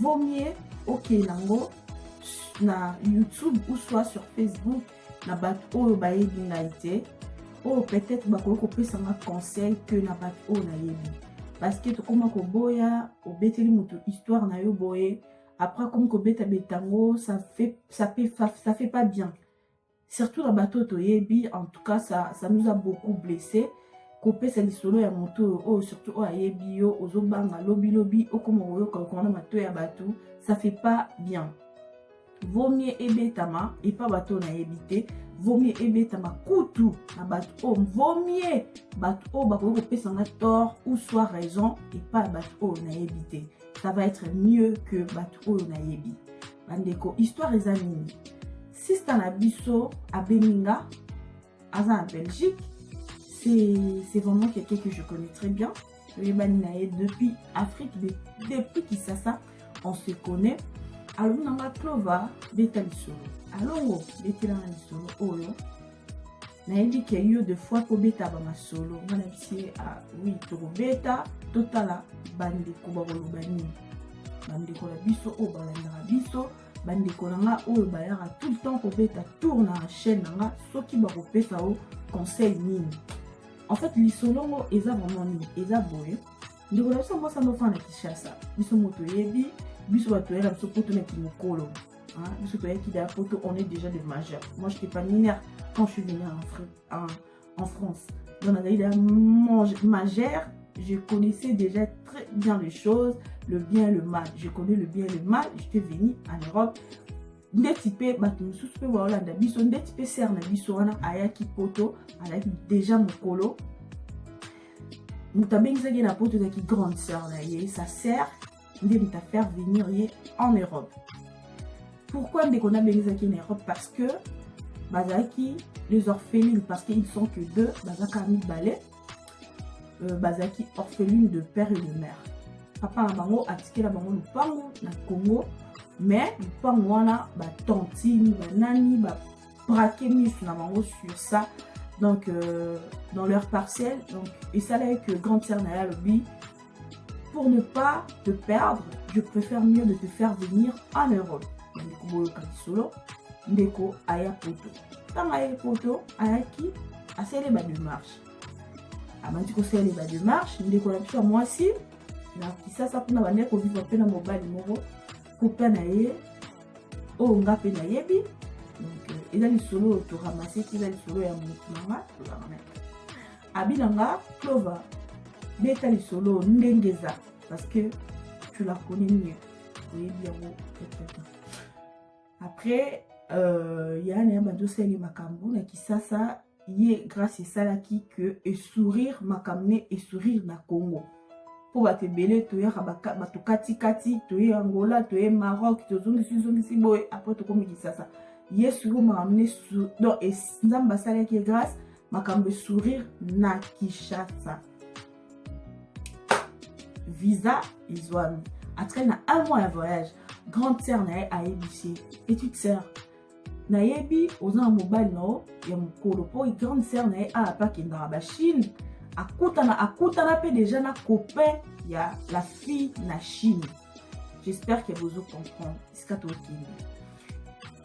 vaut mieux okende yango na youtube ou soit sur facebook na bato oyo bayebi ngai te oyo peut-être bakoki kopesa nga conseil que na bato oyo nayebi parce que tokoma koboya obeteli moto histoire na yo boye après akomi kobeta betango ça fait, ça fait, ça fait pas bien surtout na bato oyo toyebi en tout cas ça, ça nous a beaucoup blessé kopesa lisolo ya moto oyo oyo surtout oyo ayebi yo ozobanga lobilobi okoma koyoka okoma na mato ya bato ça fait pas bien vomie ebetama epa bato oyo nayebi te vomie ebetama kutu na bato oyo oh, vomie bato oyo oh, bakoki kopesa nga tort ou soit raison epa bato oyo oh, nayebi te ça va être mieux que bato oyo nayebi bandeko histoire eza nini sista na biso abengi nga aza na belgique c'est vraiment quelqu'un que je connais très bien toyebani na ye depuis afrique depuis kisasa on se connaît alobi na nga clova beta lisolo alongo betela na lisolo oyo nayebi ke yo de fois kobeta bamasolo nga na bisi ye ah, oui tokobeta totala bandeko bakoloba nini bandeko na biso oyo balandaka biso bandeko na nga oyo bayaka tout le temps kobeta tour na chaîne na nga soki bakopesa yo conseil nini en fait lisolo ngo eza vraiment nini eza boye ndeko na biso mwasi anofana na kinshasa biso moto oyebi biso bato oyaka biso poto na kimokolo biso toyaki da poto on est déjà de majeur moi j'étais pas mineure quand je suis venue en afrique en France. Donc, la Gaïda majeur, je connaissais déjà très bien les choses, le bien et le mal. Je connais le bien et le mal. J'étais venu en Europe. ndeti mpe bato mosusu mpe baolanda biso ndeti mpe ser na biso wana ayaki poto alaki deja mokolo moto abengisaki na poto ezalaki grande sœur na ye sa sœur nde mutu afaire venir ye en europe pourquoi ndeko nabengizaki ye na europe parce que bazalaki les orphelines parce que ils sont que deux bazalaka mibale euh, bazalaki orpheline de père et de mère papa na bango atikela bango lopango na congo mais lopango wana batantine banani baprake misu na bango sur ça donc euh, dans leur parcelle donc esalaki que grande sœur na ye alobi Pour ne pas te perdre, je préfère mieux de te faire venir en Europe. Ndeko boyoka lisolo, ndeko aya poto. Ntango ayaki poto, ayaki asali ba démarche. Abandi kosala ba démarche, ndeko na biso ya mwasi na kisasa kuna bandaki kovivre mpe na mobali moko kupa na ye oyo nga mpe nayebi donc euh, eza lisolo oyo toramaseki eza lisolo ya motu na nga tozalaka na abi na nga clover beta lisolo ndenge eza parce que tu la connais mieux oyebi yango peut-être après euh, ya na ya bandi osali makambo na kisasa ye grâce esalaki que esourire makambo ne esourire na congo mpo bato ebele toyaka bato katikati toye angola toye maroc tozongisizongisi boye apres tokomi kisasa yesu ko makambo ne donc nzambe asalaki ye grâce makambo ya sourire na kinshasa visa ezwami atikali na un mois ya voyage grande sœur na ye ayebisi ye petite sœur nayebi oza na mobali na yo ya mokolo mpo grande sœur na ye awa mpe akendaka bachine akutana akutana mpe deja na copain ya la fille na chine j'espère que bozo comprendre esika tokende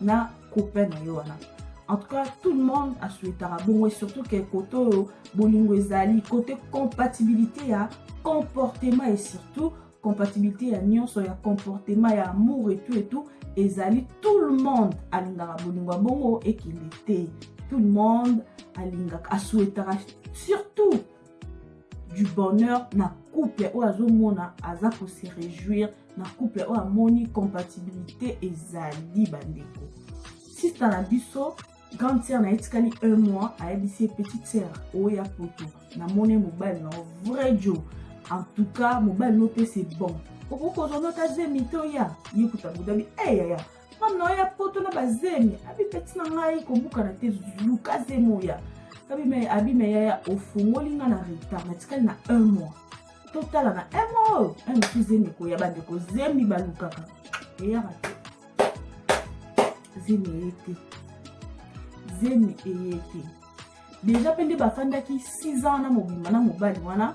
na copain na yo wana en tout cas tout le monde asuetaka bongo surtout ke kote oyo bolingo ezali kote compatibilité ya comportement et surtout compatibilité ya nyonso ya comportement ya amour et tout et tout ezali tout le monde alingaka bolingo ya bongo ekende te tout le monde alingaka asuetaka surtout du bonheur na couple oyo azomona aza ko se réjouir na couple oyo amoni compatibilité ezali bandeko sista na biso grande sœur na ye etikali un mois ayebisi ye petite sœur oya poto namoni mobali na vrai jo en tout cas mobali no mpe c'est bon okoki kozwa nota zemi to ya ye kuta bodabi eyaya hey, femme na yo ya poto na bazemi abipeti na ngai kobukana te luka zemi oya abima yaya ofungoli ngai na retard natikali na un mois totala na un mois oyo un mosu zemi ekoya bandeko zemi balukaka eyaka te zemi eye te zemi eye te deja mpe nde bafandaki 6 ans na mobimba na mobali wana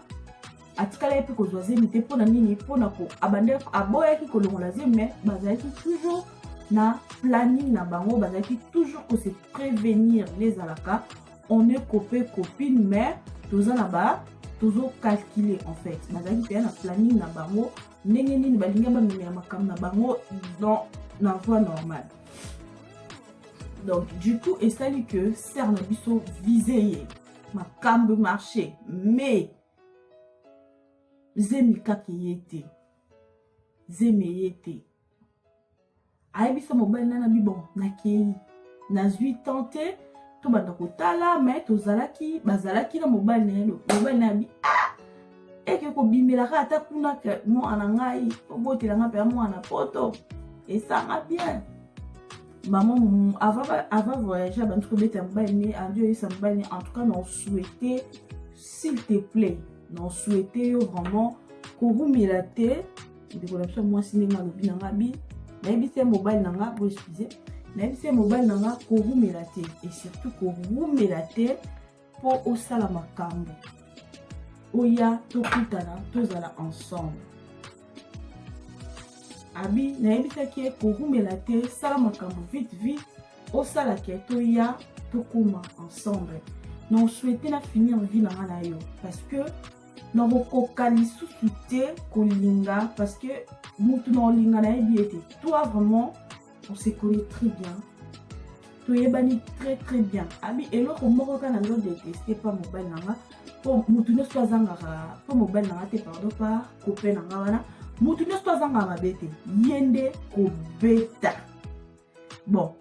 atikalaki mpe kozwa zemi te mpo na nini mpo na ko abandaki aboyaki kolongola zemi me bazalaki toujours na planning na bango bazalaki toujours ko se prévenir ezalaka on est copé copine mais toza na ba tozo calculer en fait bazalaki mpenza na planning na bango ndenge nini balingi bamemela makambo na bango dans na voie normale donc du coup esali que ser na biso vise ye makambo marché mais zemi kaka eye te zemi eye te ayebisa mobali na nabi bon nakei nazwi temps te tobanda kotala me tozalaki bazalaki na mobali na ye mobali na yabi ah! eke kobimelaka ata kuna ke mwana ngai obotela ngai mpenza mwana poto esanga bien mama ava voyage abandi kobeta mobali ne andi oyesa mobali ne en tout cas na osouete s'il te plaît na souhaite yo vraiment kowumela te ndeko na biso mwasi ndenge alobi na nga bi nayebisi ye mobali na nga bo excuse nayebisi ye mobali na nga kowumela te et surtout kowumela te mpo osala makambo oya tokutana tozala ensemble abi nayebisaki ye kowumela te sala makambo vite vite osala ke toya tokoma ensemble na osouhaite na finir vie na nga na yo parce que nakokoka lisusu te kolinga parce que motu na olinga nayebi ete toi vraiment on se connaît très bien toyebani très très bien abi eloko moko kaka nazo deteste pa mobali na nga mpo motu nyonso azangaka mpo mobali na nga te pardon pa kope na nga wana motu nyonso azangaka mabe te ye nde kobeta bon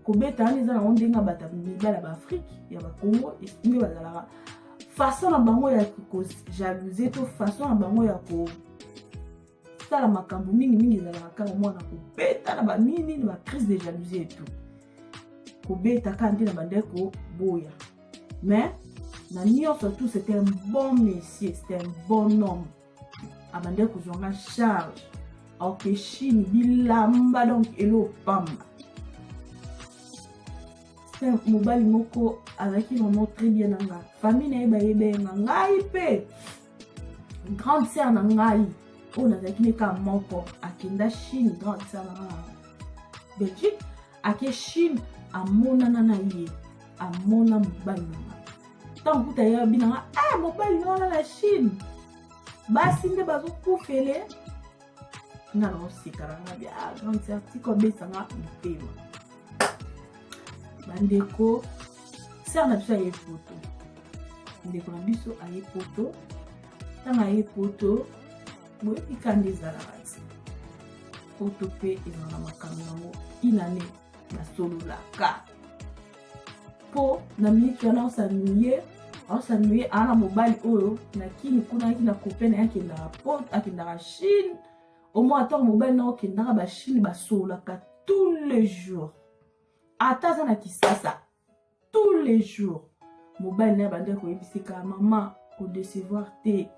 kobeta wana eza nango ndenge ya bato mibala ya baafrike ya bakongo nde bazalaka façon na bango ya kojaluse to façon na bango ya kosala makambo mingimingi ezalaka kaka mwana kobeta na banini na bacrise de jalousie etu kobeta kaka nde na bandai koboya mais na nyonso tout c'est un bon messier c'est un bon homme abandaki ah, kozwa nga charge aoke chine bilamba donc elo pamba mobali moko azalaki vraiment très bien na nga famille na ye bayebenga ngai mpe grande sœur na ngai oyo nazalaki neka moko akenda chine grande sœur na nga belgique ake chine amonana na ye amona mobali na nga ntango kuta ye abi na nga ah, mobali na wana na chine basi nde bazokufele nga na oseka na nga bia ah, grande certiko abesa nga motema bandeko sere na biso aye poto ndeko na biso aye poto ntango aye poto boyebi kanda ezalaka ti poto mpe ezalaka makambo yango inane basololaka mpo na miniti wana osanuye aosanuye aa na mobali oyo na kini kuna yaki na kope na ye akendaka pot akendaka chine omoi ntango mobali na okendaka bachine basololaka tous les jours ata aza na kisasa tous les jours mobali naye abandaki koyebisika mama kodecevoir te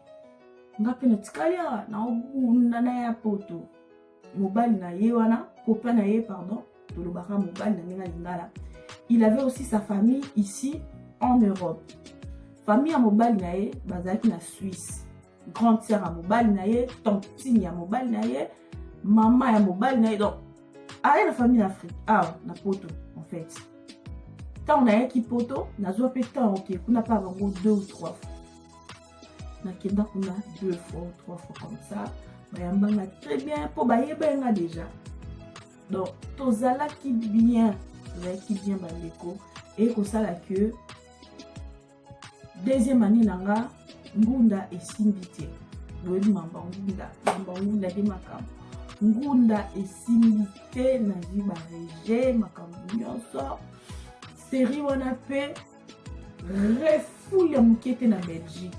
nga mpe natikali awa naobunda na ya poto mobali na ye wana kopa na ye pardon tolobaka mobali na ndenge ya lingala il avait aussi sa famille ici en europe famille ya mobali na ye bazalaki na suisse grande sœur ya mobali na ye tantine ya mobali na ye mama ya mobali na ye donc aye na famille na afrique awa ah, na poto en fait ntango nayaki poto nazwa mpe ntango oke kuna mpa bango deux ou trois fois nakenda kuna deux fois ou trois fois comme ça bayambanga très bien mpo bayebaki nga déjà donc tozalaki bien tozalaki bien bandeko eye kosala que deuxième année na nga ngunda esimbi te boyebi mamba ngunda mamba ngunda nde makambo ngunda esimbi te nazwi barege makambo nyonso serie wana mpe refoule ya moke te na belgique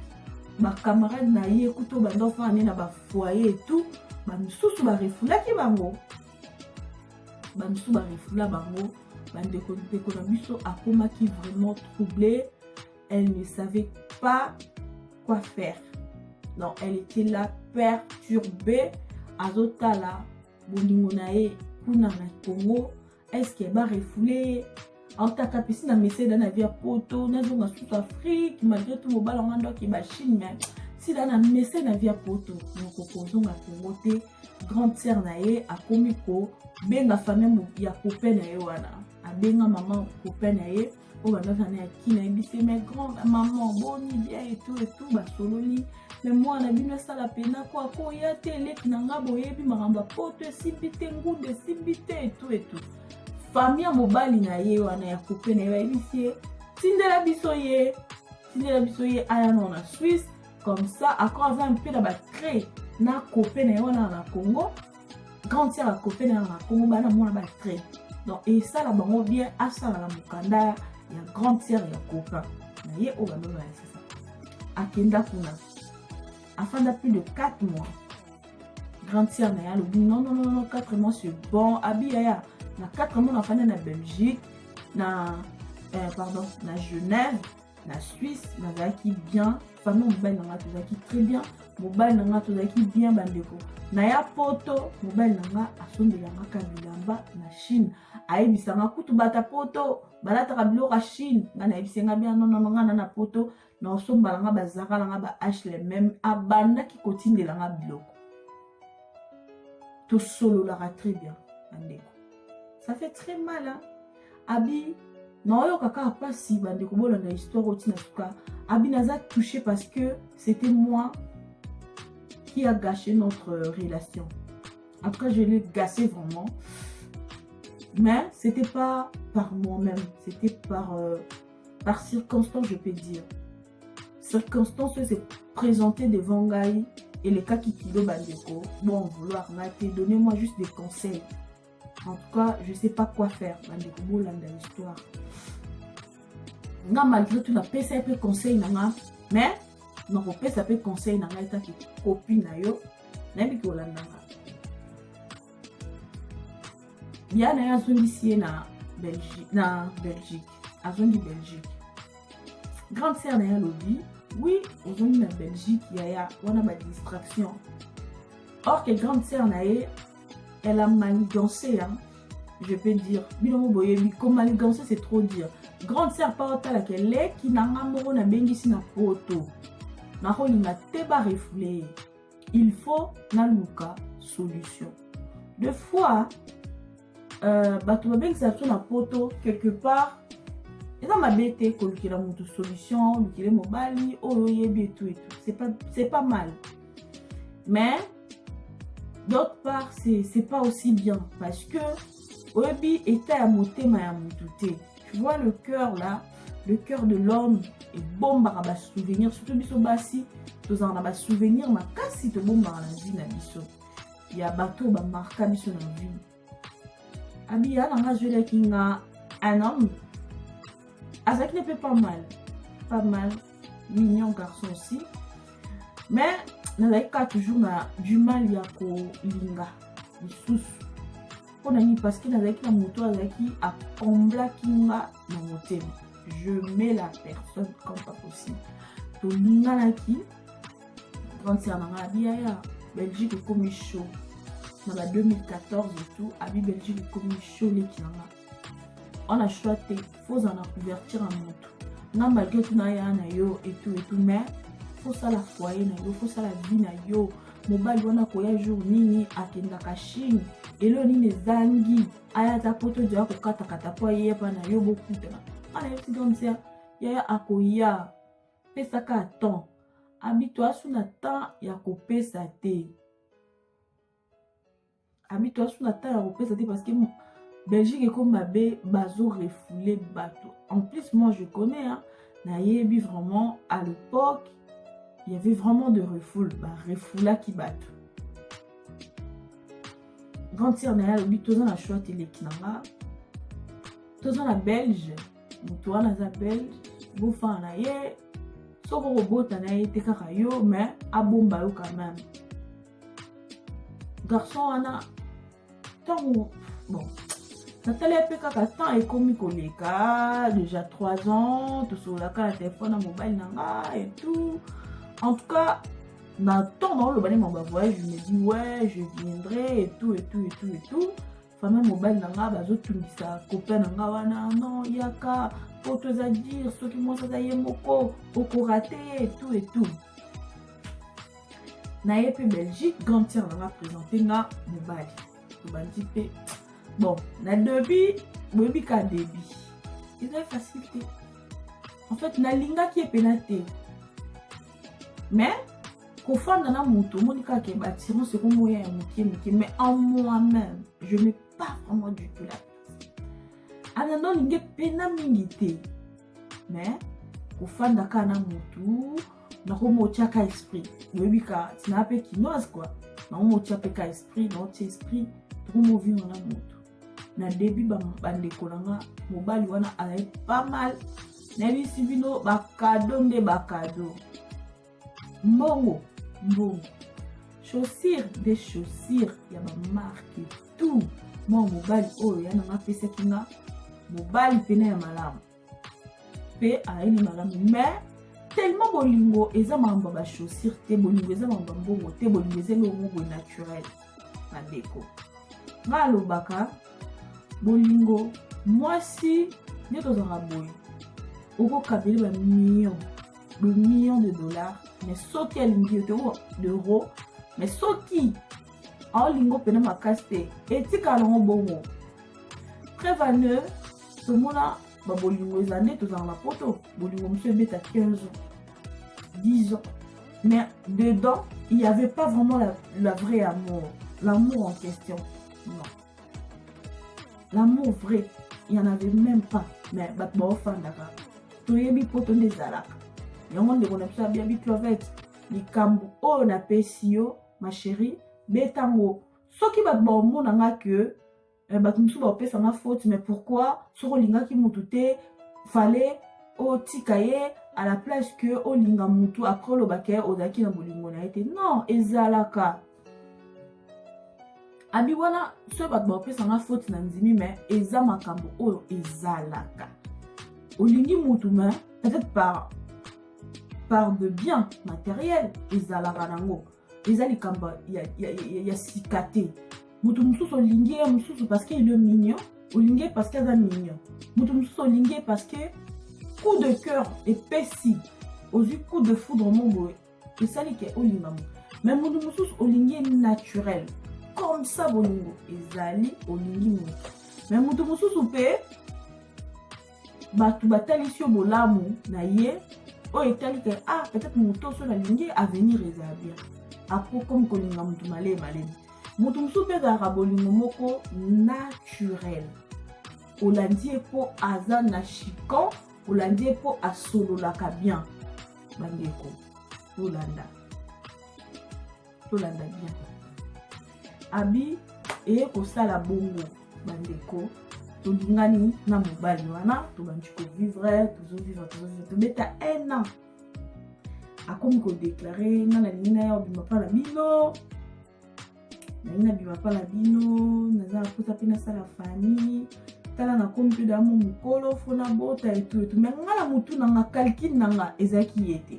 bacamarade na ye kutu banda ofana ne na bafoye etout bamosusu barefulaki bango bamisusu barefula bango bandeko ndeko na biso akomaki vraiment trouble elle ne savait pas quoi faire non elle était là perturbée azotala bolingo na ye kuna na congo est ce que barefoule ye aotaka pesi na meseda na vie ya poto nazonga susu afrique malgré tout mobala ngo ndoki bachine mais sila na mese na vie ya poto mokoki kozonga kongo te grande sœur na ye akomi kobenga famille ya copain na ye wana abenga mama copain na ye oyo bandaki na ya kina yebise mais grand maman boni bien etou etou basololi me mwana bino asala pena ko akoya te eleki na ngai boyebi makambo ya poto esimbi te ngundo esimbi te etou etou famille ya mobali na ye wana ya couple na ye bayebisi ye tindela biso ye tindela biso ye aya na na suisse comme ça ako aza mpe na batrait na couple na ye wana na congo grande sœur ya couple na ye na congo bana mwana batrait donc esala bango bien asala na mokanda ya grande sœur ya copain na ye oyo baloba ya sasa akenda kuna afanda plus de 4 mois grande sœur na ye alobi non non non 4 mois c'est bon abi yaya na 4 mois nafanda na belgique na euh, pardon na genève na suisse nazalaki bien famille mobali na ngai tozalaki très bien mobali na ngai tozalaki bien bandeko na ya poto mobali na ngai asombelangaka bilamba na chine ayebisanga kutu bata poto balataka biloko ya chine ngai nayebisi ngai bien nonono ngai na na poto na osombala nga bazaka na nga ba hlmm abandaki kotindela nga biloko tosololaka très bien bandeko ça fait très mal hein? abi naoyoka kaka mpasi bandeko bolanda histoire oti na suka abi naza touché parce que c'était moi qui a gâché notre euh, relation en tout cas je l'ai gâché vraiment mais c'était pas par moi-même c'était par euh, par circonstance je peux dire circonstance oyo se présenter devant ngai elekaki kilo bandeko bon vouloir na te donner moi juste des conseils en tout cas je sais pas quoi faire bandeko bolanda histoire nga malgré tout napesa ye mpe conseil na nga mais nakopesa mpe conseil na ngai etaki kopi na yo nayebi kolanda nga ya na ye azongisi ye na belgique na belgique azongi belgique grande sœur na ye alobi oui ozongi na belgique yaya wana badistraction or que grande sœur na ye elle a manigancé hein, je peux dire bino mo boyebi komanigancé c'est trop dire grande sœur pa otalaka eleki na nga moko nabengisi na poto nakolinga te barefoule ye il faut naluka solution de fois euh, bato babengisa biso na poto quelque part eza mabe te kolukela moto solution olukele mobali oyo oyebi etu etu c'est pas mal mais d'autre part c'est pas aussi bien parce que oyebi etat ya motema ya motu te tu vois le cœur là le cœur de l'homme ebombaka basouvenir surtout biso basi tozala na basouvenir makasi tobombaka na vie na biso ya bato oyo bamarka biso na vie abiya nanga azwelaki nga un homme azalaki ne mpe pas mal pas mal mignon garçon aussi mais nazalaki kaka toujours na du mal ya kolinga lisusu mpo na nini parce que nazalaki na moto oyo azalaki akomblaki nga na motema je mets la personne comme pas possible tolinganaki grande sœur na nga abi yaya belgique ekomi chaud na ba 2014 etout abi belgique ekomi chaud leki na nga wana choix te fozala na couverture ya moto nga malgre tuna ya na yo etu etu mais fosala foyer na yo fosala vie na yo mobali wana koya jour nini akendaka chine elo nini ezangi aya ata poto joya kokatakata po ayeya mpa na yo bokutana ana yebisi gamsia yaya akoya pesaka temps abito asu na temps ya kopesa te ami to asu na temps ya kopesa te parce que belgique ekomi mabe bazo refoule bato en plus moi je connais hein, nayebi vraiment à l'époque il y avait vraiment de refoule barefoulaki bato grand sire na ye alobi toza na choix teleki na nga toza na belge moto wana aza belge bofana na ye soki okobota na ye te kaka yo mais abomba yo quand même garçon wana ntango bon natali mpe kaka temps ekomi koleka déjà 3 ans tosololaka na telefone na mobali na nga et tout en tout cas na temps naoloba nde maba voyage je me dis ouais je viendrai et tout et tout et tout et tout fami ya mobali na ngai bazotungisa kopia na ngai wana no yaka po toza dire soki mwasi aza ye moko okorate ye etu etu na ye mpe belgique grande sœur na nga présente nga mobali tobandi mpe bon na debut boyebi ka debut eza facile te en fait nalingaki ye mpena te mais kofanda na moto omoni kaka ke batirance ekomoya ya moke moke mais en moi même je n'ai pas vraiment du tout la place ananda olingi epena mingi te mais kofanda kaka na motu nakomi otya ka esprit oyebi ka tina mpe kinoise kua nakomi otya mpe ka esprit naotya esprit tokomi ovivre na motu na debut bandeko na nga mobali wana azali pas mal nayebisi bino bakado nde bakado mbongo mbongo chaussure de chaussure ya bamarke tout mwa mobali oyo yana nga apesaki nga mobali mpena ya malamu mpe ayini malamu mais tellement bolingo eza makambo ya bachaussure te bolingo eza makambo ya mbongo te bolingo eza elongo boye naturel bandeko ngai alobaka bolingo mwasi nde tozalaka boye okokabeli bamillion bamillion de dollars mais soki alingi yo te euro mais soki aolingo mpena makasi te etikala nango bongo prevane tomona babolingo eza nde tozala na poto bolingo mosusu ebeta 15 ans 10 ans mais dedans il n'y avait pas vraiment la, la vraie amour l'amour en question non l'amour vrai il n'y en avait même pas mais bato baofandaka toyebi poto nde ezalaka yango ndeko na biso abia biclovete likambo oyo napesi yo ma chérie beta ngo soki bato baomona nga ke eh, bato mosusu baopesa nga faute mais pourquoi soki olingaki motu te fale otika ye à la place que olinga motu après oloba ke ozalaki na bolingo na ye te non ezalaka abi wana soki bato baopesa nga faute na ndimi mais eza makambo oyo ezalaka olingi motu mais peut-être par par de bien materiel ezalaka nango eza likambo ya, ya, ya, ya sika te moto mosusu olingi ye mosusu parce que il est mignon olingi ye parce que aza mignon moto mosusu olingi ye parce que coup de cœur epesi ozwi coup de foudre mo boye esali ke olinga moto mais moto mosusu olingi ye naturel comme ça bolingo ezali olingi moto mais moto mosusu mpe bato batalisi yo bolamu na ye oyo etali ke ah peut-être moto oso nalingi avenir ezala bien apres comme kolinga moto maleye malemi moto mosusu mpe ezalaka bolingo moko naturel olandi ye mpo aza na chican olandi ye mpo asololaka bien bandeko tolanda tolanda bien abi eye kosala bongo bandeko tolingani na mobali wana tobandi kovivre tozovivre tozovivre tobeta un an akomi kodeklare nga nalingi na ya obima mpa na bino nalingi nabima mpa na bino naza na mposa mpe nasala famille tala nakomi mpe damo mokolo fona bota etuetu me nga na motu na nga calcule na nga ezalaki ye te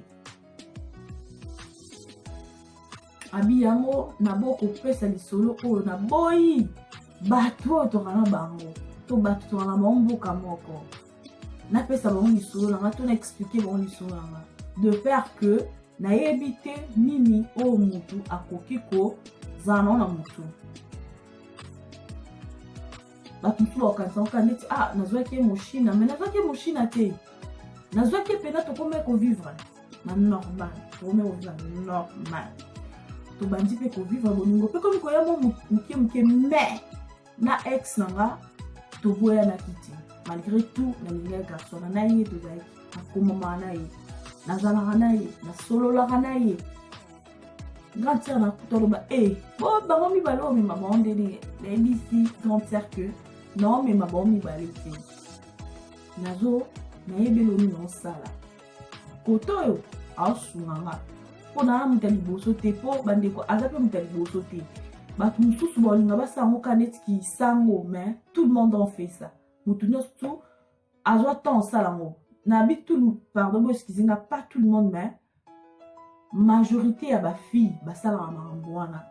abi yango nabokopesa lisolo oyo naboyi bato oyo toka na bango to bato toka na bango mboka moko napesa bango lisolo na nga to na explike bango lisolo na nga de peur que nayebi te nini oyo motu akoki kozala nao na motu bato mosusu bakokanisa koka ndeti ah nazwaki ye moshina mai nazwaki ye moshina te nazwaki ye mpena tokomai kovivre na normal tokomai kovivre na normal tobandi mpe kovivre bolingo mpe komi koya mo moke moke mai na ex na nga toboyanaki te malgré tout nalingaki garçon na na ye tozalaki nakomamaka na ye nazalaka na ye nasololaka na ye grande sœur na kutu aloba e eh, bo bango mibale omema bango ndeni nayebisi grande sœur que naomema bango mibale te nazo nayebi eloni naosala kote oyo aosunga nga mpo naa moto ya liboso te mpo bandeko aza mpe moto ya liboso te bato mosusu balinga basala yango ka neti kisango mais tout le monde en fait ça moto nyonso azwa temps osala yango nabi tout pardon bo excuse nga pas tout le monde mais majorité ya bafille basalaka makambo wana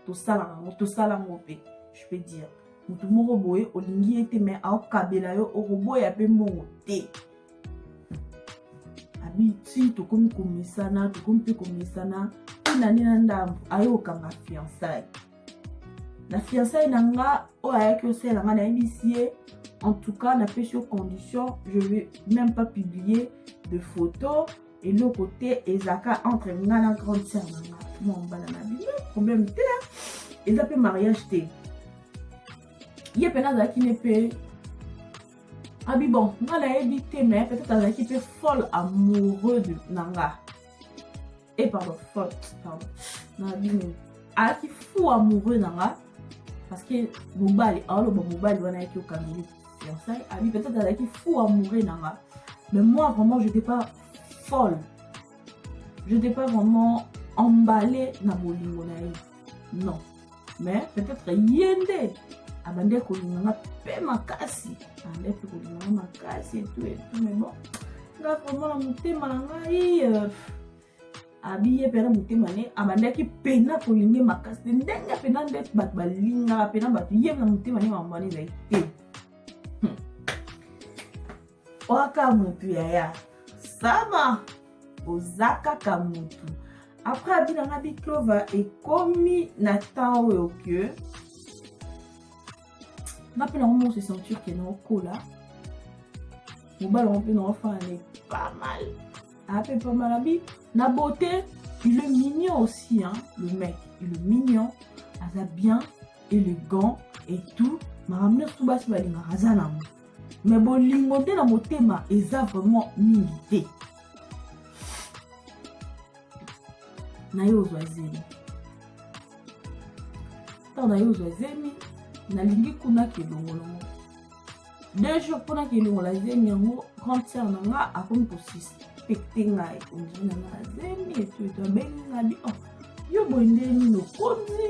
tosalaka yango tosala yango mpe je peux dire motu moko boye olingi ye te mai aokabela yo okoboya mpe mbongo te abi ti tokomi komesana tokomi mpe komesana mpe na nde na ndambo aye okanga fiançaille na fiançaille na nga oyo ayaki osala nga nayebisi ye en tout cas napesi yo condition je vais même pas publier de photo eloko te ezalaka entre nga na grande sœur na nga mwa mbala na bino problème te eza mpe mariage te ye mpe nazalaki ne mpe abi ah bon nga nayebi te mais peut-être azalaki mpe folle amoureux na nga e eh, pardon fort pardon na bino ayaki fou amoureux na nga parce que mobali aoloba mobali wana ayaki okangeli fiançaille abi peut-être azalaki fou amoureux na nga mais moi vraiment j'étais pas folle j'étais pas vraiment emballée na bolingo na ye non mais peut-être ye nde abandaki kolinga nga mpe makasi abandaki mpe kolinga nga makasi etu etu mais bon nga vraiment na motema na ngai euh, abiye mpe na motema ne abandaki mpena kolinga makasi te ndenge mpena nde bato balingaka mpena bato ye na motema ne mambo wana ezali te Waka mutu yaya sama oza kaka mutu après abi na nga biclova ekomi na temps oyo que nga mpe nango moko se sentir ke naokola mobali yango mpe naofana ne pas mal ape pas mal abi na beauté il est mignon aussi hein, le mec il est mignon aza bien élégant et tout makambo nyonso basi balingaka aza nango mais bolingo nde na motema eza vraiment mingi te na yo ozwa zemi ntango na yo ozwa zemi nalingi kuna kelongolongo deux jours mpona kelongola zemi yango grande sœur na nga akomi kosuspekte ngai ondiri na nga na zemi etu etu abengi nga bi oh, yo boye nde nini okonzi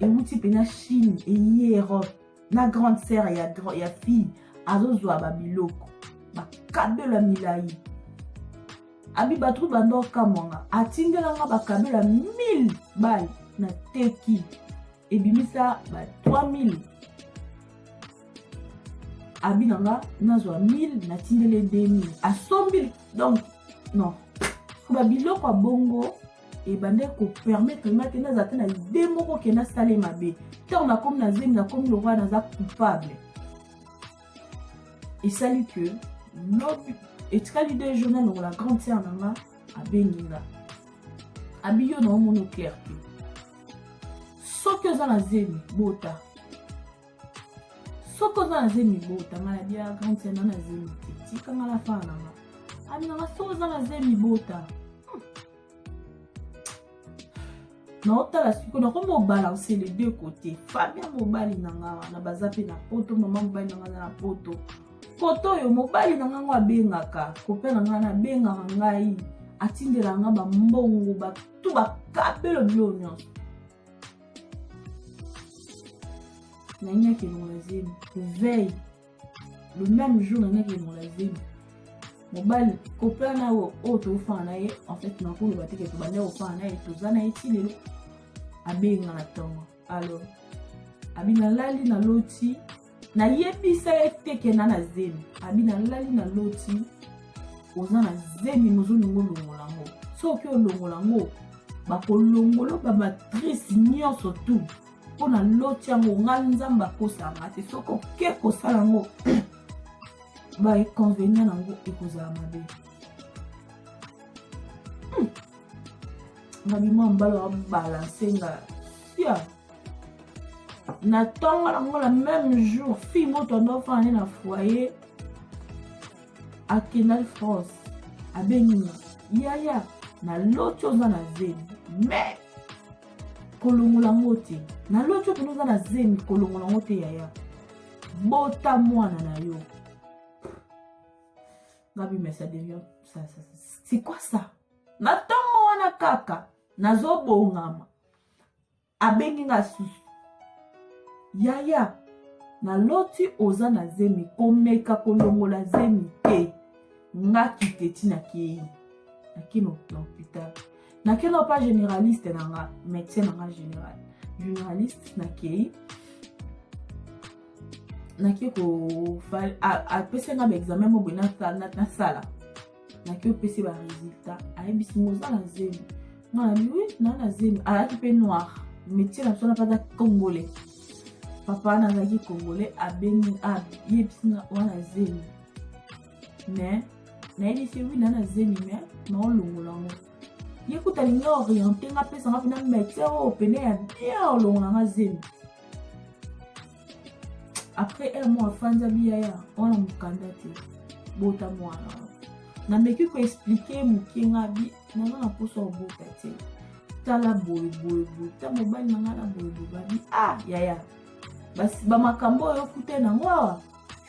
ewuti mpe na chine eye europe na grande sere ya, ya fille azozwa babiloko bakabelo ya milai abi bato banda okamwanga atindelanga bakabelo ya 1000 bale na teki ebimisa ba 3000 abi na nga nazwa 1000 natindeli 2000 asombi donc non babiloko ya bongo ebandaki kopermettre nga te nazala te na ide moko ke nasala ye mabe ntango nakomi na zemi nakomi lokola naza coupable esali ke lobi etikali de jour na lokola grande sere na nga abengi nga abi yo na omoni clair te soki oza na zemi bota soki oza na zemi bota maladi ya grande sena na zemi te tikanga na fana nanga abinanga soki oza na zemi bota hmm. naotala siko nakomi obalanse le deux côté famia mobali na nga wana baza mpe na poto mama mobali na nga aza na poto koto oyo mobali na nga ngo abengaka kope na nga nabengaka ngai atindelaka nga bambongo batu bakabelo bilo nyonso na nini akendongola zemi veille le même jour na nini akendongola zemi mobali kopla na oyo oyo tofana na ye en fait nakoloba te ke tobanda kofana na ye toza na ye ti lelo abenga na ntongo alors abi nalali naloti nayebisa ye te kenda na zemi abi nalali na loti oza na zemi mozolingo olongola yango soki olongola yango bakolongola bamatrice nyonso tu mpo na loti yango nga nzambe akosanga te soki oke kosala yango baeconvenient na yango ekozala mabe hmm. nga bimwa mbala babalanse nga sia na ntongo yango na meme jour fille moto ando afandi na foyer akendaki france abengi nga yaya naloti oza na zemi mais kolongola yango te naloti okende oza na zemi kolongola yango te yaya bota mwana na yo ngabi mais ça devient ça, ça, c'est quoi ça na ntongo wana kaka nazobongama abengi nga susu yaya naloti oza na zemi komeka kolongola zemi te nga kiteti na kei nakino na hopital nakeno pa généraliste na nga médecin na nga général généraliste nakei nake ko apesa nga baexamen moko boye nasala naki opesi ba resultat ayebisi ngo oza na zemi nga na biwi naa na zemi alaki mpe noir métier na biso na mpata congolais papa wana azalaki congolais abeni ayebisi nga oza na zemi mais nayebisi wi naa na zemi mais naolongola ngo ye kuta alingi oriente nga apesa nga mpena métier oyo pene ya bien olongola nga zemi après un mois afandi abiyaya wana mokanda te bota mwana wana nameki koexplike moke nga bi naza na mposa obota te tala boyeboyeboye ta mobali na ngai na boyeboye babi ah yaya bamakambo oyo okuta nango awa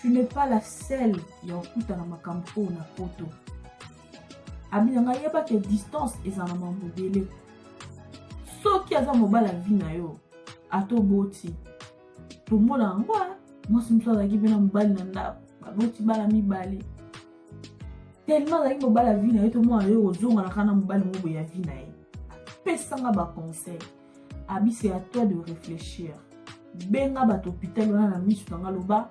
tu n'es pas la selle ya okuta na makambo oyo na poto abi na ngai yebaka distance eza na mambo ebele soki aza mobala vi na yo ata oboti tomona yango mwasi mosusu azalaki mpe na mobali na ndako baboti bana mibale tellement azalaki mobali ya vi na ye tomona yo kozonganaka na mobali moko ya vi na ye apesanga baconseil abise ya toi de réfléchir benga bato hôpital wana na miso na nga loba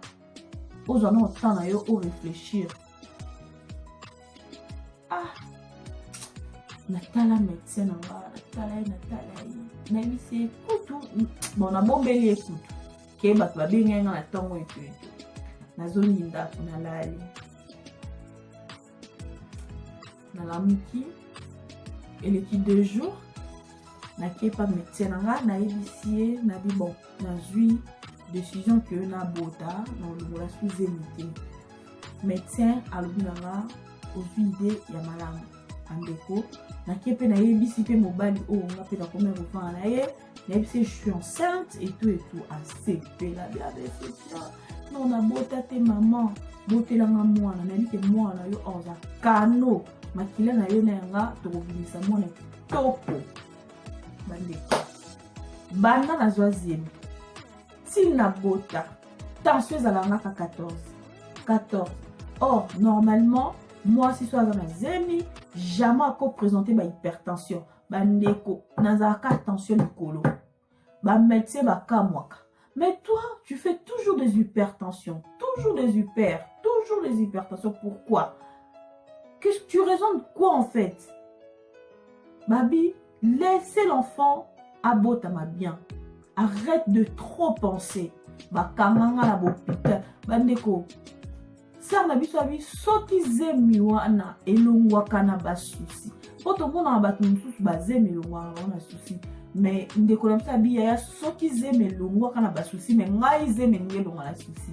ozwa na temps na yo oréfléchir ah natala medecin na nga natala ye natala ye nayebisi ye kutu bon nabombeli ye kutu ke bato babengai nga na ntongo etu etu nazongi ndako nalali nalamuki eleki deux jours nakepa medecin na nga nayebisi ye nabi bon nazwi décision que nabota na olongola suzemi te medecin alobi na nga ozwi ide ya malamu bandeko nake mpe nayebisi mpe mobali oyo nga mpe nakomi ya kofana na ye nayebisi je suis enceinte etou etou asepela biabesepela no nabota te mama botelanga mwana nayebi te mwana yo aza kano makila na yo na yanga tokobimisa mwana kitoko bandeko banda nazwa zemi tii na bota tension ezala ngaka 14 14 or normalement mwasi so aza na zemi jamais akopresente bahypertension bandeko nazalaka tension likolo bamédecin bakamwaka mais toi tu fais toujours des hypertensions toujours des hyper toujours des hypertensions pourquoi que tu raisonnes quoi en fait babi laissez l'enfant abotama bien arrête de trop penser bakanga nga na bopita bandeko sere na biso abi soki zemi wana elongwaka na basusi mpo tomonaka bato mosusu bazemi elongwaka bango na susi me ndeko na biso abi yaya soki zemi elongwaka na basusi me ngai zemi elingi elongwa na susi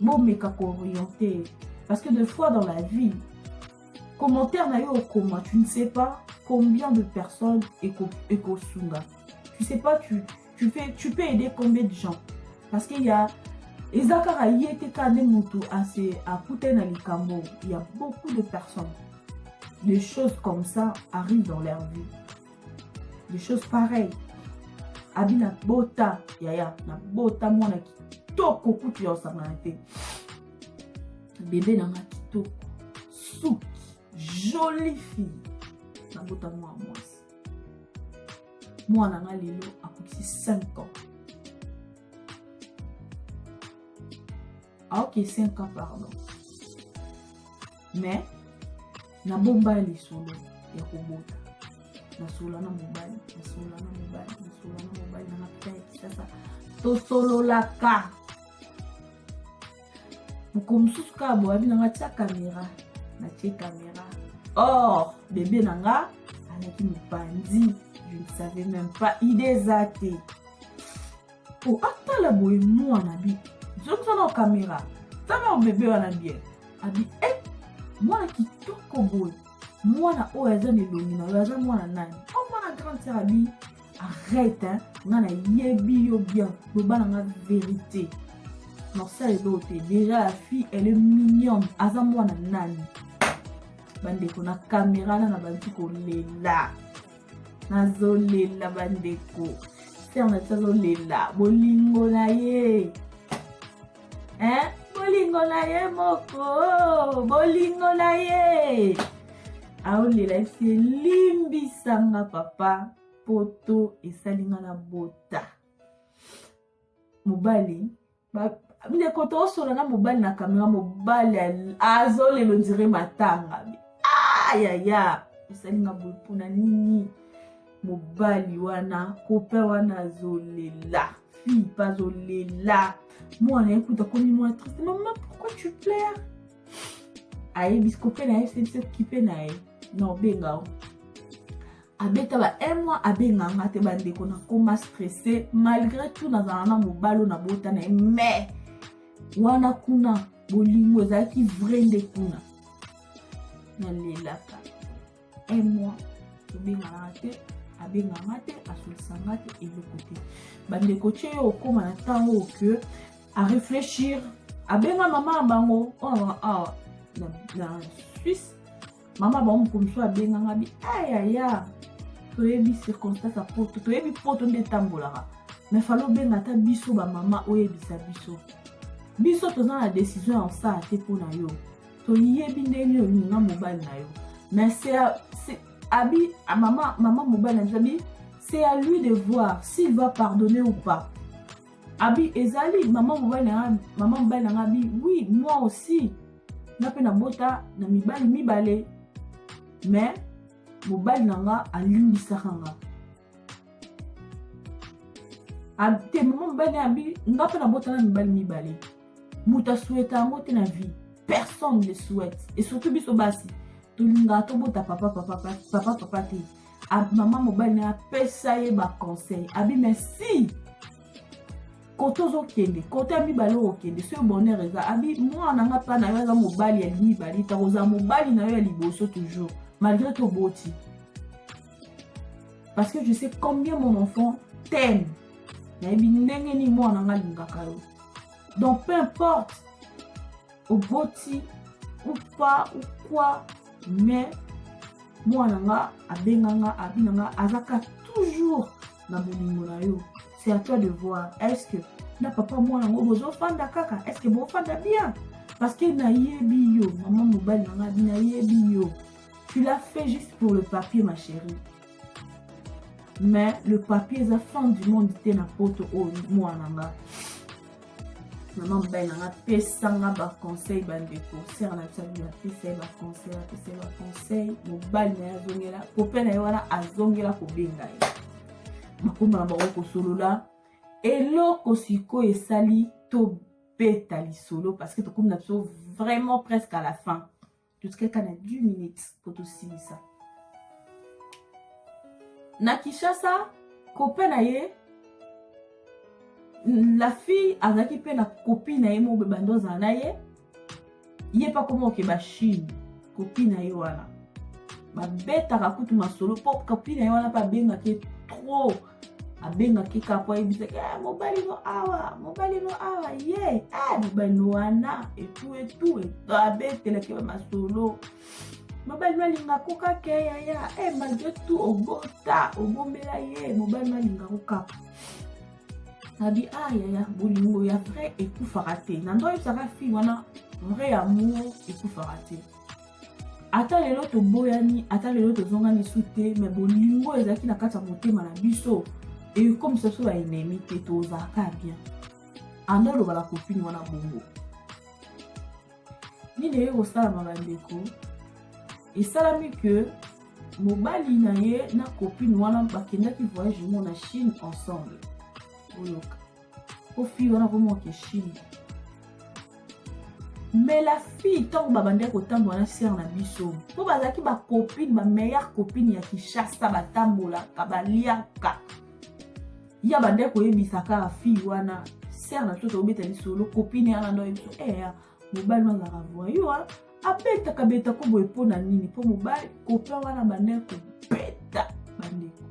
bomeka kooriente parce que de fois dans la vie commentaire na yo okoma tu ne sais pas combien de personnes ekosunga tu sais pas tu, tu, fais, tu peux aider combien de gens parce qu'il y a eza kaka ye te kaka nde motu ase akutani na likambo ya beaucoup de personnes des choses comme ça arrivent dans leur vie des choses pareil abi na bota yaya na bota mwana kitoko kutu ya osangana te bebe nanga kitoko suki jolie fille na bota mwana mwasi mwana nga lelo akokisi 5 ans aoke 5 ans pardon mais nabomba lisolo ya kobota nasolola na mobali nasolola na mobali nasolola na mobali na mapita ya kisasa tosololaka mokolo mosusu kaka boyabi na nga tia kamera natie kamera or bebe na nga alaki mopanzi je ne savais même pas idée eza te po atala boye mwana bi zongisa na kamera tala bebe wana bien abi e eh, mwana kitoko boye mwana oyo aza na elongi na yo aza mwana nani o oh, mwana grande sere abi arrête hein? nga nayebi yo bien loba na nga verité norsa eloo te déjà la fille elle est mignonne aza mwana nani bandeko na kamera na na bantu kolela nazolela bandeko sere na biso azolela bolingo na ye eh? bolingo na ye moko bolingo na ye aolela esi elimbisanga papa poto esali nga na bota mobali ndeko tosola na mobali na kamera mobali azolelo ndire matanga ayaya ah, osalinga boye mpona nini mobali wana kope wana azolela fille mpe azolela mwana ye kuta komi mwa triste mama pourquoi tu plaire ayebisi kope na ye fcdc kipe na ye na obenga o abeta ba un mois abenga nga te bandeko nakoma stresse malgré tout nazala na mobalo na bota na ye mais wana kuna bolingo ezalaki vrai nde kuna nalelaka un mois tobenganaka te abenga nga te asolisa nga te eloko te bandeko tye yo okóma na ntango oyo ke areflechir abenga mama ya bango oyo awa na suisse mama bango mokolo mosusu abenga nga bi ayaya ah, toyebi circonstance ya poto toyebi poto nde etambolaka me fali obenga ata biso bamama oyebisa biso biso toza na desizio ya osala te mpo na yo toyebi ndenge nini olinga mobali na yo me abi ah, mama, mama mobali na biso abi c'est à lui de voir s'il va pardonner ou pas abi ezali mama mobali na nga mama mobali na nga abi oui moi aussi nga mpe nabota na mibali mibale me mobali na nga alimbisaka nga te mama mobali abi nga mpe nabota na mibali mibale moto asweta yango te na vie personne ne souhaite et surtout biso basi tolingaka tobota papa papa papa papa te mama mobali na ye apesa ye baconseil abi mais si kote ozokende kote ya mibale okokende soki bonheur eza abi mwana na nga mpa na yo aza mobali ya mibale ta kozala mobali na yo ya liboso toujours malgré toboti parce que je sais combien mon enfant t'aime nayebi ndenge nini mwana na nga alingaka yo donc peu importe oboti ou pas ou quoi mais mwana nga abenga nga abina nga azaka toujours na bolingo na yo c'est à toi de voir est ce que na papa mwana yango bozofanda kaka est ce que bofanda bien parce que nayebi yo mama mobali na nga nayebi yo tu l'as fait juste pour le papier ma chérie mais le papier eza fin du monde te na poto oyo oh, mwana nga mama mobali na nga pesanga baconseil bandeko sere na biso abima apesa ye baconseil apesa ye baconseil mobali na ye azongela kope na ye wana azongela kobenga ye bakoma na bango kosolola eloko sikoyo esali tobeta lisolo parce que tokomi na biso vraiment presque à la fin totikaka na 10 minutes mpo tosilisa na kinshasa kope na ye la fille azalaki mpe na kopi na ye moko bebanda ozala na ye ye mpe akoma kokeba chine kopi na ye wana babetaka kutu masolo mpo kopi na ye wana mpe abengaki trop abengaki kaka mpo ayebisaki eh, mobali no awa mobali no awa ye eh, mobali no wana etu etu abetelaki ba masolo mobali no alinga ko kaka eh, yaya e malgre tout obota obombela ye mobali no alinga ko kaka abi a ah, yaya bolingo ya vrai ekufaka te na ndo oyebisaka fille wana vrai amour ekufaka te ata lelo toboyani ata lelo tozongani su te me bolingo ezalaki na kati ya motema na biso ekomisa biso baenemi te tozalaka bien anda oloba na kopini wana bongo nini eye kosalama bandeko esalami ke mobali na ye na kopini wana bakendaki voyage ngo na chine ensemble oyoka po fille wana vraiment okeshimi mais la fille ntango babandaki kotambola na sere na biso mpo bazalaki bacopine bameilleure copine ya kinshasa batambolaka baliaka ye abandaki koyebisa kaka fille wana sere na biso tokobeta lisolo copine yana ndoyebisa eya eh, mobali wana azalaka voyua abetaka beta ko boye mpo na nini mpo mobali kopia wana bandeko kobeta bandeko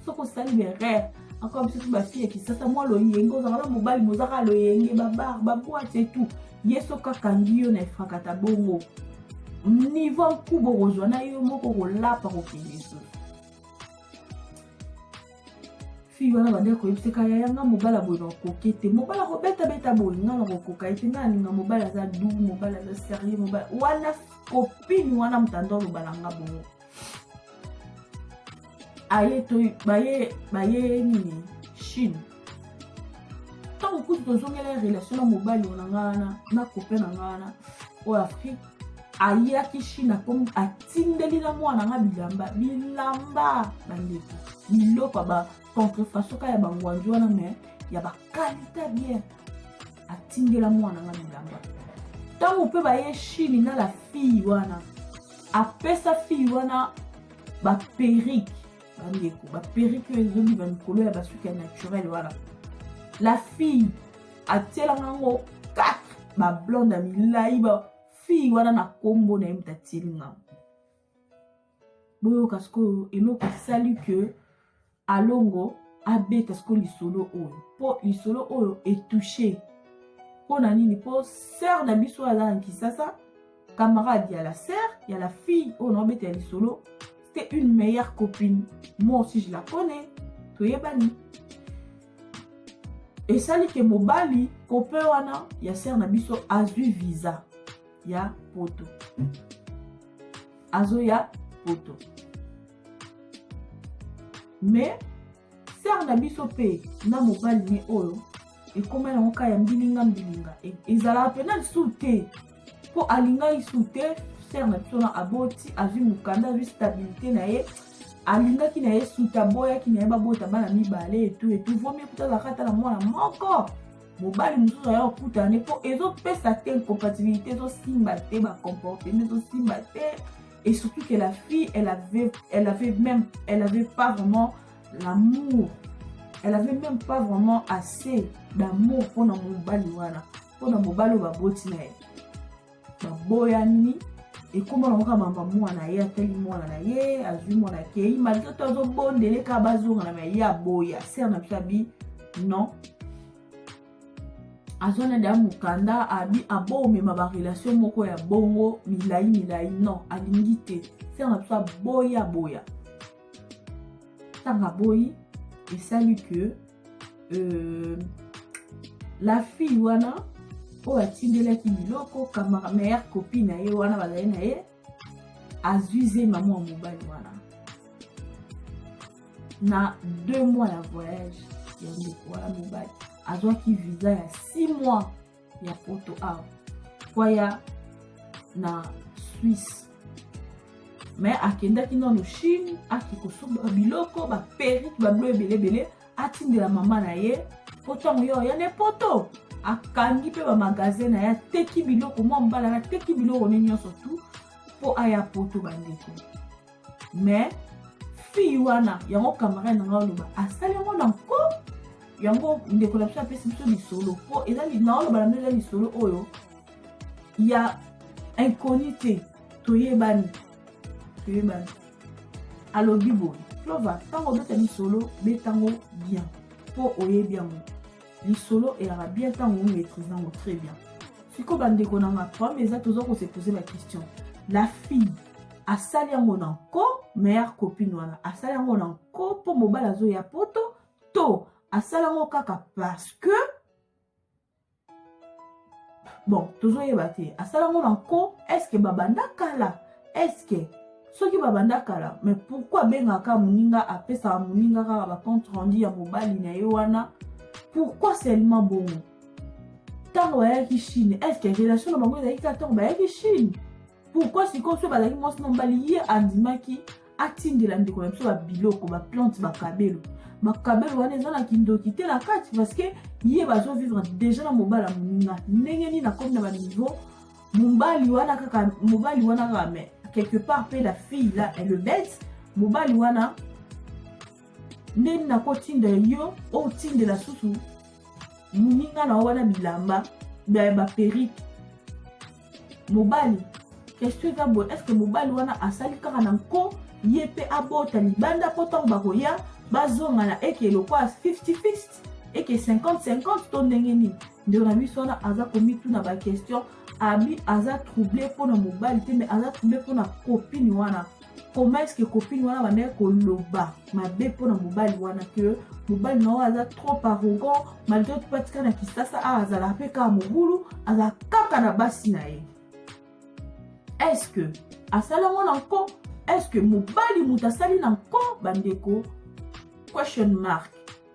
soki osali berere akoya biso bafille ya kisasa mwa loyenge ozaka na mobali mozaka loyenge babar babwate etout ye soki akangi yo na efrakata bongo nivo nkuba okozwa na yo moko kolapa kokende lisusu fille wana bandaki koyebisa ka yaya nga mobali aboye nakokoke te mobali akobetabeta boye nga nakokoka ye te nga alinga mobali aza du mobali aza serieux mobali wana kopini wana motanda oloba na nga bongo aye to baye baye nini chine ntango kutu tozongela relation na mobali ona nga wana na kope na nga wana oyo afrique ayaki chine akomi atindeli na mwana nga bilamba bilamba bandeko biloko ya bacontrefasoka ya bangwanzi wana me ya bakalita bien atindela mwana nga bilamba ntango mpe baye chine na la fille wana apesa fille wana baperike bandeko baperike oyo ezobi bamikolo ya basuki ya naturel wana la fille atielanga yango 4 bablonde ya milai bafille wana na nkombo na ye moto atieli ngango boyoka sikoyo eloko esali ke alongo abeta sikoyo lisolo oyo mpo lisolo oyo etouche mpo na nini mpo sere na biso aza na kisasa camarade ya la sœur ya la fille oyo naobeta ya lisolo c'était une meilleure copine moi aussi je la connais toyebani esali ke mobali copain wana ya sœur na biso azwi visa ya poto azoya poto mais sere na biso mpe na mobali ne oyo ekoma yango ka ya mbilinga mbilinga e, ezalaka mpena lisusu te mpo alingaki lisusu te sere na biso na aboti azwi mokanda azwi stabilité na ye alingaki na ye suta aboyaki na ye babota bana mibale etu etu vomi ekuta azalaka ata na mwana moko mobali mosusu aya kokutana ne mpo ezopesa te incompatibilité ezosimba te bacomportement ezosimba te et surtout que la fille elle avait elle avait même elle avait pas vraiment l'amour elle avait même pas vraiment assez d'amour mpona mobali wana mpona mobali oyo baboti na ye baboyani ekoma nango kaka mama mwana ye atali mwana na ye azwi mwana akei malgre to azobondele kaka bazongana ma ye aboya ser na biso abi non azwa na deya mokanda abi abomema barelation moko ya bongo milai milai non alingi te sere na biso aboyi aboya ntango aboyi esali ke euh, la fille wana oyo atindelaki biloko kamara meilleure copine na ye wana bazali na ye azwi zema mwa mobali wana na deux mois ya voyage ya ndeko wana mobali azwaki visa ya six mois ya poto awa kwaya na swisse me akendaki nano chine ake kosomba biloko baperike babilo ebele ebele atindela mama na ye po ntango yo ya ne poto akangi mpe bamagasin na ye ateki biloko mwa mbala na ateki biloko ne nyonso tu mpo aya poto bandeko mais fille wana yango camarade na ngai oloba asali yango na nko yango ndeko na biso apesi biso lisolo mpo eza naoloba na bino eza lisolo oyo ya inconnu te toyebani toyebani alobi boye clova ntango obeta lisolo beta yango bien mpo oyebi yango lisolo eyaka bien ntango omaîtrise yango très bien sikoyo bandeko na nga problème eza toza kose pose ba question la fille asali yango na nko meilleure copine wana asali yango na nko mpo mobali azoya poto to asali yango kaka parce que bon tozoyeba te asala ngo na nko eske babanda kala eske soki babanda kala mais pourquoi abengaka moninga apesaka moninga kaka bacompte rendu ya mobali na ye wana pourquoi seulement bongo ntango bayaki chine eske relation na bango ezalaki kaka ntango bayaki chine pourkui sikoyo so bazalaki mwasi na mobali ye andimaki atindela ndeko na biso babiloko baplante bakabelo bakabelo wana eza na kindoki te na kati parceke ye bazovivre deja na mobali ya moninga ndenge nini akomi na baniveau mobali wana kaka mobali wana kaka mais quelque part mpe la fille la elle le bête mobali wana ndeni nakotinda yo otindela susu moninga na yo wana bilamba baperike mobali question eza boye estce mobali wana asali kaka na nko ye mpe abota libanda mpo ntango bakoya bazonga na eke lokwa 50 eke 50-50 to ndenge nini ndeko na biso wana aza komituna baquestion abi aza trouble mpo na mobali te me aza trouble mpo na kopini wana comment est-ce que copine wana bandaki koloba mabe mpo na mobali wana que mobali na oyo aza trop arrogant malgré tout atika na kisasa awa azalaka mpe kaka mobulu aza kaka na basi na ye est-ce que asala ngo na nko est-ce que mobali moto asali na nko bandeko question mark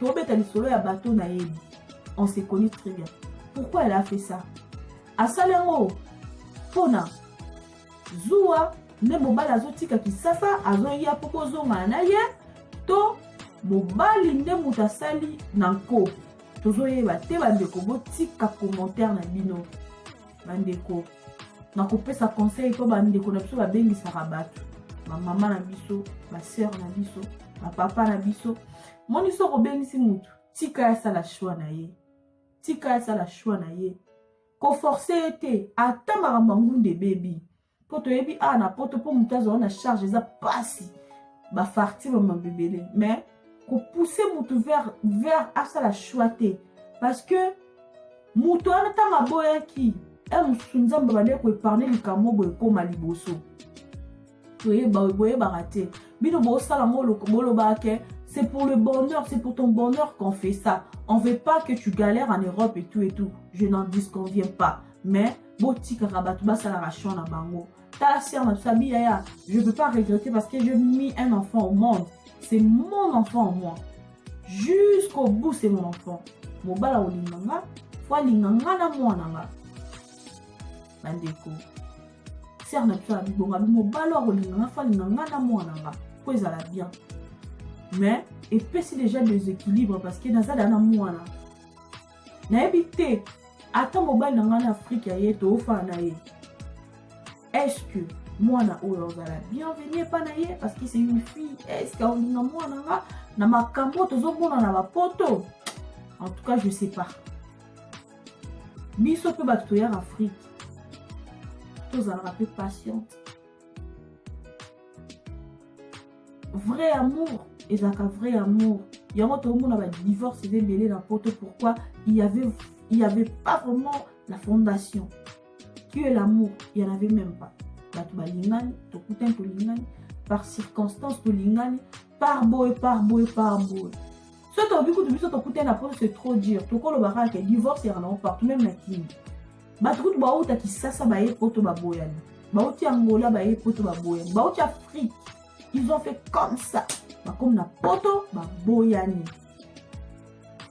tobeta lisolo ya bato nayebi on se connaît très bien pourquoi elle a fait ça asali yango mpona zuwa nde mobali azotika kisasa azoya mpo bozongana na ye to mobali nde moto asali na nko tozoyeba te bandeko botika commentaire na bino bandeko na kopesa conseil mpo bandeko na biso babengisaka bato bamama na biso baseur na biso bapapa na biso moni soki obengisi motu tika ye asala shwa na ye tika ye asala shwa na ye koforce ye te ata makambo angunda ebebi mpo toyebi awa na poto mpo motu azwa na charge eza mpasi bafartire mabebele mais kopousse motu vers, vers asala shwa te parce que motu wana ntango aboyaki e mosusu nzambe abandaki koepargne likambo boye ekóma liboso boyebaka te bino bosala ngo bolobaka ke c'est pour le bonheur c'est pour ton bonheur qu'on fait ça on veut pas que tu galères en europe et tout et tout je n'en disconviens pas mais botikaka bato basalaka champ na bango tala ser na biso abi yaya je peux pas regretter parce que je mis un enfant au monde c'est mon enfant au moins jusqu'au bout c'est mon enfant mobala olinga nga fo alinga nga na mwana nga bandeko sere na biso ya bibonga mobali akolinga nga falinga nga na mwana nga mpo ezala bien mais epesi déjà deséquilibre parce que naza da na mwana nayebi te ata mobali na ngai na afrike ya ye toofana na ye est-ce que mwana oyo azala bienvenu epa na ye parce que c'est une fille est-ce que aolinga mwana nga na makambo tozomona na bapoto en tout cas je sais pas biso mpe bato toyaka afrike tozalaka mpe patiente vrai amour ezalaka vrai amour yango tokomona badivorce eza ebele na poto pourquoi il y avait, il y avait pas vraiment la fondation qui est l'amour il y en avait même pas bato balingani tokutani tolingani par circonstance tolingani par boye par boye par boye soki tobi kutu biso tokutani na poto c'est trop dur tokoloba kaka ke divorce yaka nango partout meme na kini bato kutu bauta kisasa baye poto baboyani bauti angola baye poto baboyani bauti afrique ils ont fait comme ça bakomi na poto baboyani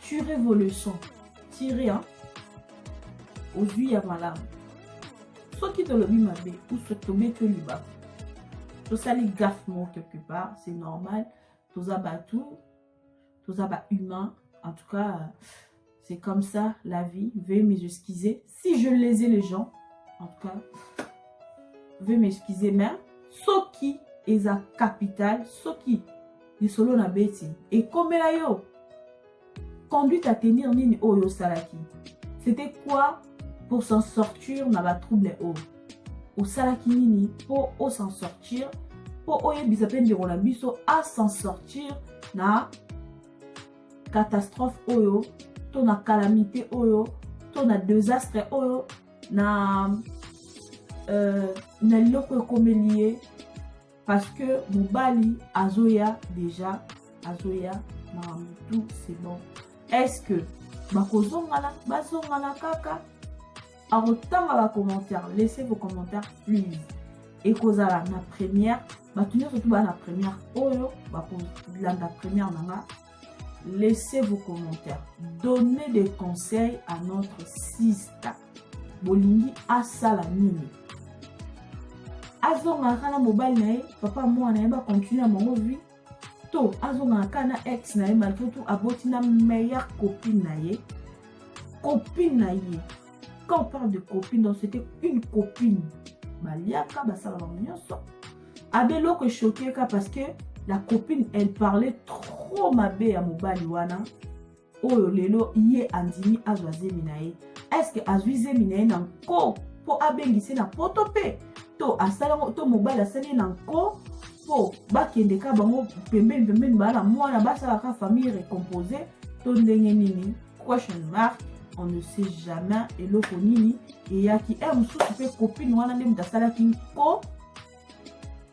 tire vos leçons tire hein? ozwi ya malamu soki tolobi mabe ou soki tobeti yo libaku tosali gaffe moko quelque part c'est normal toza bato toza bahumain en tout cas c'est comme ça la vie veuillez m'excuser si je lese les gens en tout cas vais m'excuser mais soki eza capital soki lisolo na beti ekomela yo conduite à tenir nini oyo osalaki c'était quoi pour s'en sortir na batrouble oyo osalaki nini mpo osan sortir mpo oyebisa mpe ndeko na biso asan sortir na catastrophe oyo to na calamité oyo to na desastre oyo na euh, na eloko ekomeli ye parce que mobali azoya déjà azoya makambo tout c'est bon est ce que bakozongana bazongana kaka akotanga ba commentaire laissez vos commentaires please ekozala na première bato nyonso tu baa na première oyo bakolanda première na nga laissez vos commentaires donnez des conseils à notre sister bolingi asala nini azongaka na mobali na ye papa mwana na ye bakontinue na bango vie to azongaka kaka na ex na ye malfoutu aboti na meilleure copine na ye copine na ye quand on parle de copine donc c'était une copine baliaka basala bango nyonso abe eloko eshokeka parce que la copine elle parlait trop mabe ya mobali wana oyo lelo ye andimi azwa zemi na ye eske azwi zemi na ye na nko mpo abengise na poto mpe to asalango to mobali asali ye na nko mpo bakende ka bango pembeni pembeni baa na mwana basala ka famille recompose to ndenge nini question mark on ne sait jamais eloko nini eyaki e mosusu mpe kopine wana nde moto asalaki nko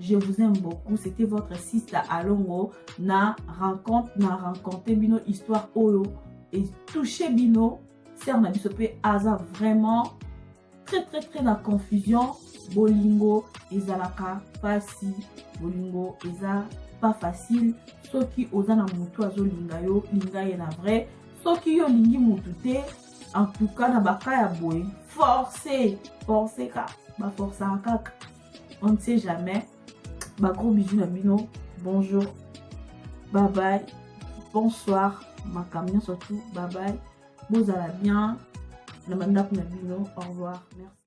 Je vous aime beaucoup. C'était votre sister Alongo na rencontre na rencontre bino histoire oyo et touché bino sœur na biso pe aza vraiment très très très na confusion bolingo ezalaka pasi bolingo eza pas facile soki oza na mutu azolinga yo linga ye na vrai soki yo olingi mutu te en tout cas na baka ya boye force force ka baforsaka kaka on ne sait jamais ba gros bisous na bino bonjour bye bye bonsoir makambo nyonso tout bye bye bozala bien na bandako na bino au revoir merci